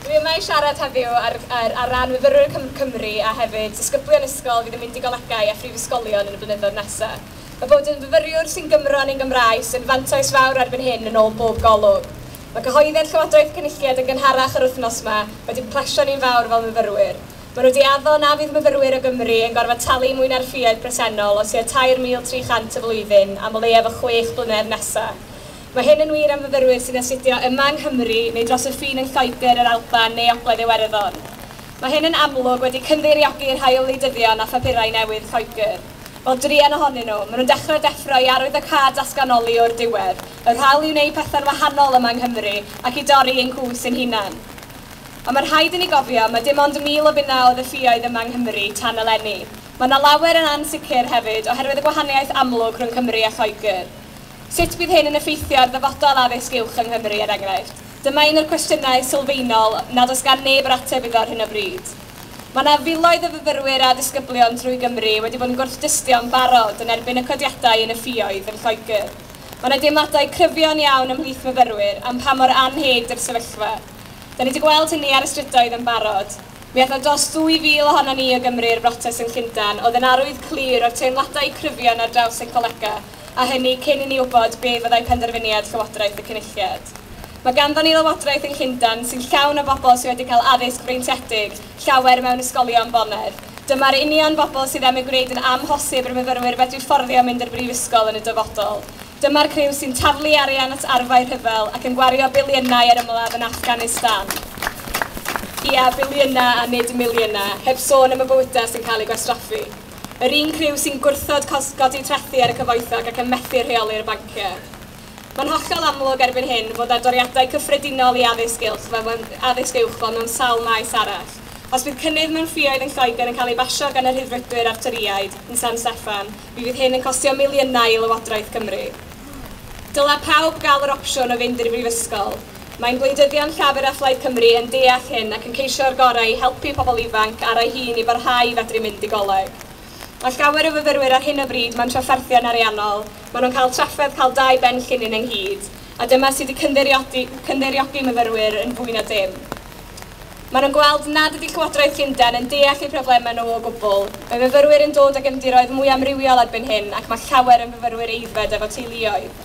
Dwi yma i siarad heddiw ar ar ar ran myfyrwyr Cym Cymru a hefyd disgyblion ysgol fydd yn mynd i golegau a phrifysgolion yn y blynyddoedd nesa'. Mae bod yn fyfyriwr sy'n Gymro yn ein Gymraes yn fantais fawr erbyn hyn yn ôl bob golwg. Mae cyhoeddiad Llywodraeth Cynulliad yn gynharach yr wythnos 'ma wedi plesio ni'n fawr fel myfyrwyr. Maen nhw 'di addo na fydd myfyrwyr o Gymru yn gorfod talu mwy na'r ffïoedd presennol o tua 3,300 y flwyddyn am o leiaf y chwech blynedd nesa'. Mae hyn yn wir am fyfyrwyr sy'n astudio yma yng Nghymru neu dros y ffin yn Lloegr, yr Alban neu Ogledd Iwerddon. Mae hyn yn amlwg wedi cynddeiriogui i'r rhai o wleidyddion â phapurau newydd Lloegr. Wel, druan ohonyn nhw. Maen nhw'n dechrau deffro i arwyddocâd datganoli o'r diwedd. Yr hawl i wneud pethau'n wahanol yma yng Nghymru ac i dorri ein cwys ein hunain. Ond mae'n rhaid i ni gofio, mae dim ond 1,000 o finnau o ddelluoedd yma yng Nghymru tan eleni. Mae 'na lawer yn ansicr hefyd oherwydd y gwahaniaeth amlwg rhwng Cymru a Lloegr. Sut bydd hyn yn effeithio ar ddyfodol addysg uwch yng Nghymru, er enghraifft? Dyma un o'r cwestiynau sylfaenol nad oes gan neb yr ateb iddo ar hyn o bryd. Mae yna filoedd o fyfyrwyr a disgyblion drwy Gymru wedi bod yn gwrthdystio'n barod yn erbyn y codiadau yn y ffioedd yn Lloegr. Mae yna deimladau cryfion iawn ymhlith myfyrwyr am pa mor annheg ydy'r sefyllfa. Da ni wedi gweld hynny ar y strydoedd yn barod. Mi aeth 'na dros 2,000 ohonon ni o Gymru i'r brotest yn Llundain, oedd yn arwydd clir o'r teimladau cryfion ar draws ein colegau. a hynny cyn i ni wybod be fyddai penderfyniad Llywodraeth y Cynulliad. Mae ganddon ni Lywodraeth yng Llundain sy'n llawn o bobl sydd wedi cael addysg freintiedig, llawer mewn ysgolion bonedd. Dyma'r union bobl sydd am ei gwneud yn amhosib i'r myfyrwyr fedru fforddio mynd i'r brifysgol yn y dyfodol. Dyma'r criw sy'n taflu arian at arfau rhyfel ac yn gwario biliynau ar ymladd yn Affganistan, ia, biliynau a nid miliynau, heb sôn am y bywydau sy'n cael eu gwastraffu. Yr un criw sy'n gwrthod cosb godi trethi ar y cyfoethog ac yn methu rheoli'r banciau. Mae'n hollol amlwg erbyn hyn fod â doriadau cyffredinol i addysg uwch fel mewn, addysg uwch fel mewn sawl maes arall. Os bydd cynnydd mewn ffioedd yn Lloegr yn cael ei basio gan y Rhyddfrydwyr a'r Torïaid yn San Steffan, mi fydd hyn yn costio miliynau i Lywodraeth Cymru. Dylai pawb gael yr opsiwn o fynd i'r brifysgol. Mae'n gwleidyddion Llafur a Phlaid Cymru yn deall hyn ac yn ceisio'r gorau i helpu pobl ifanc ar ei hun i barhau i fedru mynd i goleg. Mae llawer o fyfyrwyr ar hyn o bryd mewn trafferthion ariannol, maen nhw'n cael trafferth cael dau ben llinyn ynghyd, a dyma sydd wedi cynddeiriogi myfyrwyr yn fwy na dim. Maen nhw'n gweld nad ydy Llywodraeth Llundain yn deall eu problemau nhw o gwbl. Mae myfyrwyr yn dod o gefndiroedd mwy amrywiol erbyn hyn ac mae llawer yn fyfyrwyr aeddfed efo teuluoedd.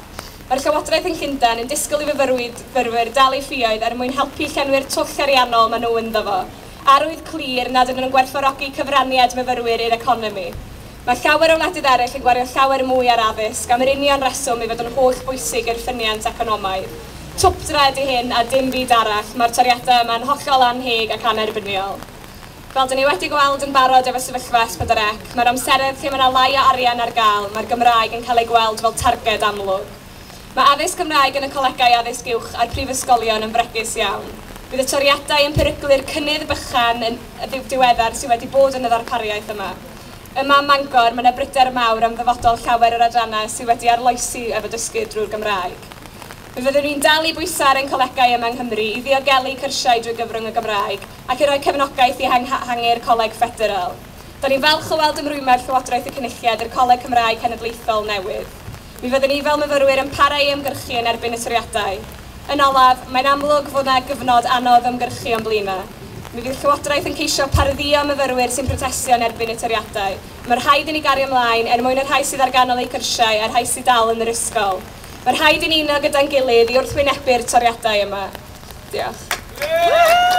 Mae'r Llywodraeth yn Llundain yn disgwyl i fyfyrwyr dal eu ffioedd er mwyn helpu i llenwi'r twll ariannol maen nhw ynddo fo. Arwydd clir nad ydyn nhw'n gwerthfawrogi cyfraniad myfyrwyr i'r economi. Mae llawer o wledydd eraill yn gwario llawer mwy ar addysg am yr union reswm ei fod yn holl bwysig i'r ffyniant economaidd. Twpdra ydy hyn a dim byd arall. Mae'r toriadau yma yn hollol annheg ac annerbyniol. Fel dyn ni wedi gweld yn barod efo sefyllfa S4C, mae'r amseroedd lle mae yna lai o arian ar gael, mae'r Gymraeg yn cael ei gweld fel targed amlwg. Mae addysg Gymraeg yn y colegau addysg uwch a'r prifysgolion yn fregus iawn. Bydd y toriadau yn peryglu'r cynnydd bychan yn ddiweddar sydd wedi bod yn y ddarpariaeth yma. Yma ym Mangor, mae yna bryder mawr am ddyfodol llawer o'r adrannau sydd wedi arloesi efo dysgu drwy'r Gymraeg. Fe fyddwn ni'n dal i bwyso ar ein colegau yma yng Nghymru i ddiogelu cyrsiau drwy gyfrwng y Gymraeg, ac i roi cefnogaeth i ehanghaehangu'r Coleg Ffederal. Da ni'n falch o weld ymrwymiad Llywodraeth y Cynulliad i'r Coleg Cymraeg Cenedlaethol newydd. Mi fyddwn ni fel myfyrwyr yn para i ymgyrchu yn erbyn y toriadau. Yn olaf, mae'n amlwg fod yna gyfnod anodd ymgyrchu o'n blaen yma. Mi fydd Llywodraeth yn ceisio pardduo myfyrwyr sy'n protestio yn erbyn y toriadau. Mae rhaid i ni gario ymlaen er mwyn y rhai sydd ar ganol eu cyrsiau a'r rhai sydd dal yn yr ysgol. Mae rhaid i ni uno gyda'n gilydd i wrthwynebu'r toriadau yma. Diolch.